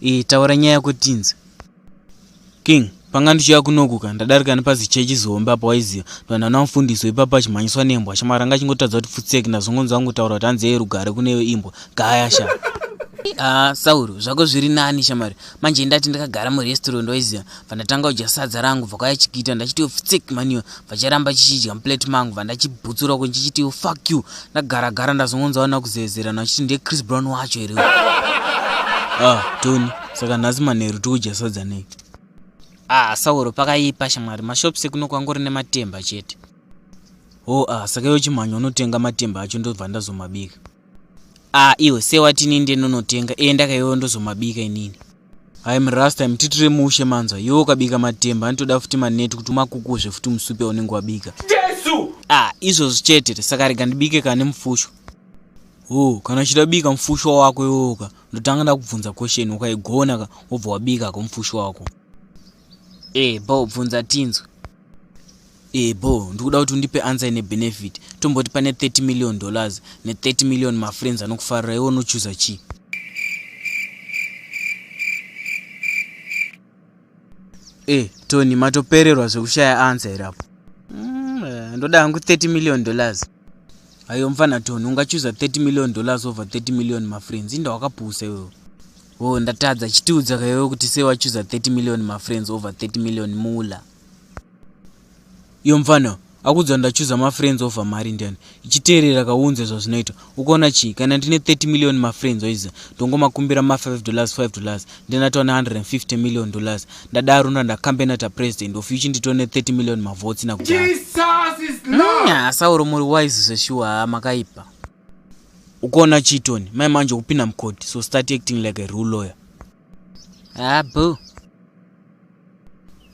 Iyi taura nyaya yako tinzi. King, panga ndichiya kunokuka ndadarika nepazichechi zihombe apa waiziva vanhu vanamufundiswa ipapo achimhanyiswa nembwa shamwari anga achingotadza kuti futseki ndazongonzi vangotaura kuti hanzi yeye rugare kune imbwa gaya sha ah, sauro zvako zviri nani shamwari manje ndati ndakagara murestaurant waiziva vandatanga kudya sadza rangu vakauya chigita ndachitiwo fitsik maniyo vacharamba chichidya muplate mangu vandachibutsura uko ndichichitiwo fuck you ndagara gara ndazongonzawo nakuzezerana vachiti ndiye chris brown wacho here ah tony saka nhasi manheru tikudya sadza nei ah sauro pakaipa shamwari mashops ekuno kwangori nematemba chete ho oh, ah saka iwo chimhanya unotenga matemba acho ndobva ndazomabika Ah, iwe sewati inini ndinonotenga iye ndakaiwewo ndozomabika inini hayi murasta mutitire mushe manzwa iwe ukabika matemba anotoda futi maneti kuti umakukuzve futi musupe unenge wabika jesu ah izvozvo chete saka rega ndibike kana nemufusho o kana uchida kubika mufusho wako iwoka ndotanga ndakubvunza question ukaigona ka wobva wabika ko mufusho wako e eh, bo bvunza tinzwe Ee eh, bho, ndikuda kuti undipe answer ine benefit. Tomboti pane 30 million dollars ne 30 million mafriends anokufarira iwe unochuza chii? Ee, eh, Tony matopererwa zvekushaya answer here apo? Mm, eh, ndoda hangu 30 million dollars. Ayo mfana Tony, ungachuza 30 million dollars over 30 million mafriends. Inda wakapusa iwewe. Oh, ndatadza chitiudza kaiwe kuti sei wachuza 30 million mafriends over 30 million mula. iyo mfana akuudza ndachuza mafriends over mari ndiani ichiteerera kaunze zvazvinoita ukaona chii kana ndine 30 million mafriends oiza ndongomakumbira ma5 dollars 5 dollars ndinatova ne150 million dollars ndadaro ndandacampenata president of uchi nditone 30 million mavots nakuasauro mm, muri wise zveshuwa haa makaipa ukaona chii tony mai manje kupinda mukoti so start acting like a rule lawyer abo ah,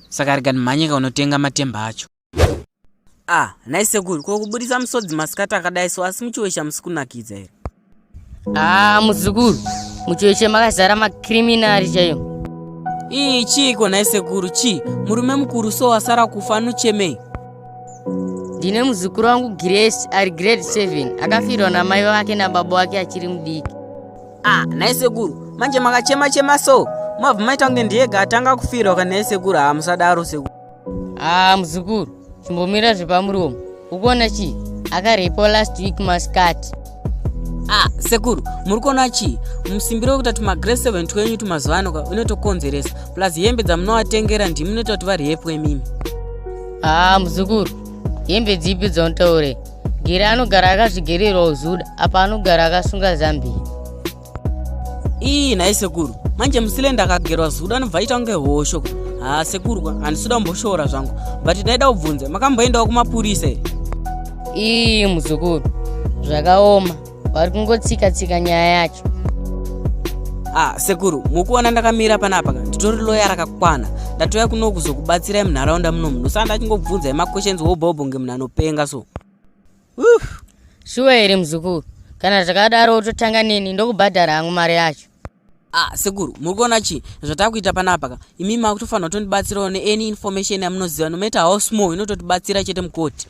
saka rega ndimhanyika unotenga matemba acho a ah, nhai sekuru ko kuburitsa musodzi masikati akadai so asi muchiwesha musi kunakidza here a ah, muzukuru muchiweshe makazara makriminari chaiyo ii chiiko nhai sekuru chii murume mukuru so wasara kufa anochemei ndine muzukuru wangu grace ari grade 7 akafirwa namai vake nababa wake achiri mudiki Ah, nhai sekuru, manje makachema chema so. Mabva maita kunge ndiyega atanga kufirwa kana nhai sekuru, ah musadaro sekuru. Ah, muzukuru, chimbomira zvepamuromo. Ukuona chii? Akarepo last week maskati. Ah, sekuru, muri kuona chii? Musimbiro wekuita tuma grade 7 twenyu tumazuva ano ka unotokonzeresa. Plus hembe dzamunovatengera ndimi munoita kuti variyepwe mimi. Ah, muzukuru, hembe dzipi dzaunotaure? gere anogara akazvigerera ozuda apa anogara akasunga zambiya ii nhai sekuru manje musilenda akagerwa zuda anobva aita kunge hosho haa sekurwa handisuda kumboshora zvangu but ndaida kubvunza makamboendawo kumapurisa ii muzukuru zvakaoma vari kungotsika tsika nyaya yacho ah sekuru mukuona ndakamira panapa ka nditori loya rakakwana ndatouya kuno kuzokubatsirai munharaunda muno munhu saa ndachingobvunza emaquestions wobhobhonge munhu anopenga so uh. shuwa here muzukuru kana zvakadaro wototanga neni ndokubhadhara hangu mari yacho ah sekuru muri kuona chii zvatakuita panapa ka imi makutofanira kutondibatsirawo neany information yamunoziva nomatter how small inototibatsira chete mukoti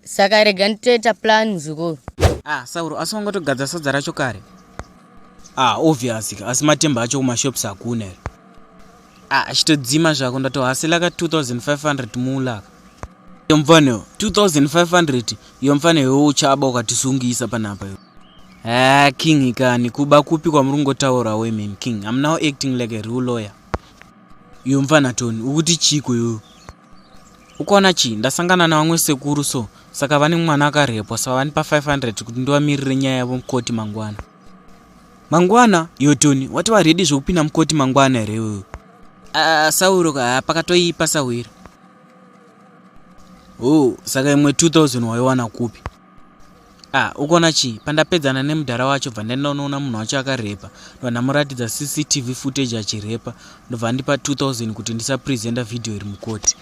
saka rega nditoita plan muzukuru ah sauro asi wangotogadza sadza racho kare ah obvious asi matemba acho kumashops hakuna here ah achitodzima zvako ndatohasela ka 2500 mulaka iyo mfana 2500 iyo mfana iwe uchaba ukatisungisa panapa iyo ha ah, king kani kuba kupi kwamuri kungotaura women king am now acting like a real lawyer iyo mfana tony ukuti chiko iyo ukaona chii ndasangana navamwe sekuru so saka vane mwana akarepwa saka vanipa 500 kuti ndivamirire nyaya yavo mukoti mangwana mangwana yotoni wati varedi zvekupinda mukoti mangwana here iwewe ah, sauro ah, pakatoipa sahwira o oh, saka imwe 2000 waiwana kupi Ah, ukona chii? Pandapedzana nemudhara wacho bva ndaenda unoona munhu wacho akarepa. Ndobva ndamuratidza CCTV footage achirepa. Ndobva andipa 2000 kuti ndisapresenta video iri mukoti.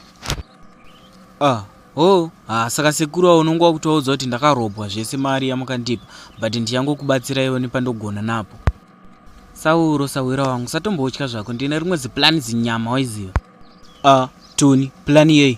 Ah, ho, ha, saka sekuru awo unonge wakuti waudza kuti ndakarobwa zvese mari yamukandipa, but ndichangokubatsira iwo nepandogona napo. Sauro, sahwira wangu, satombotya zvako, ndine rimwe ziplan zinyama waiziva. Ah, Tony, plan yei?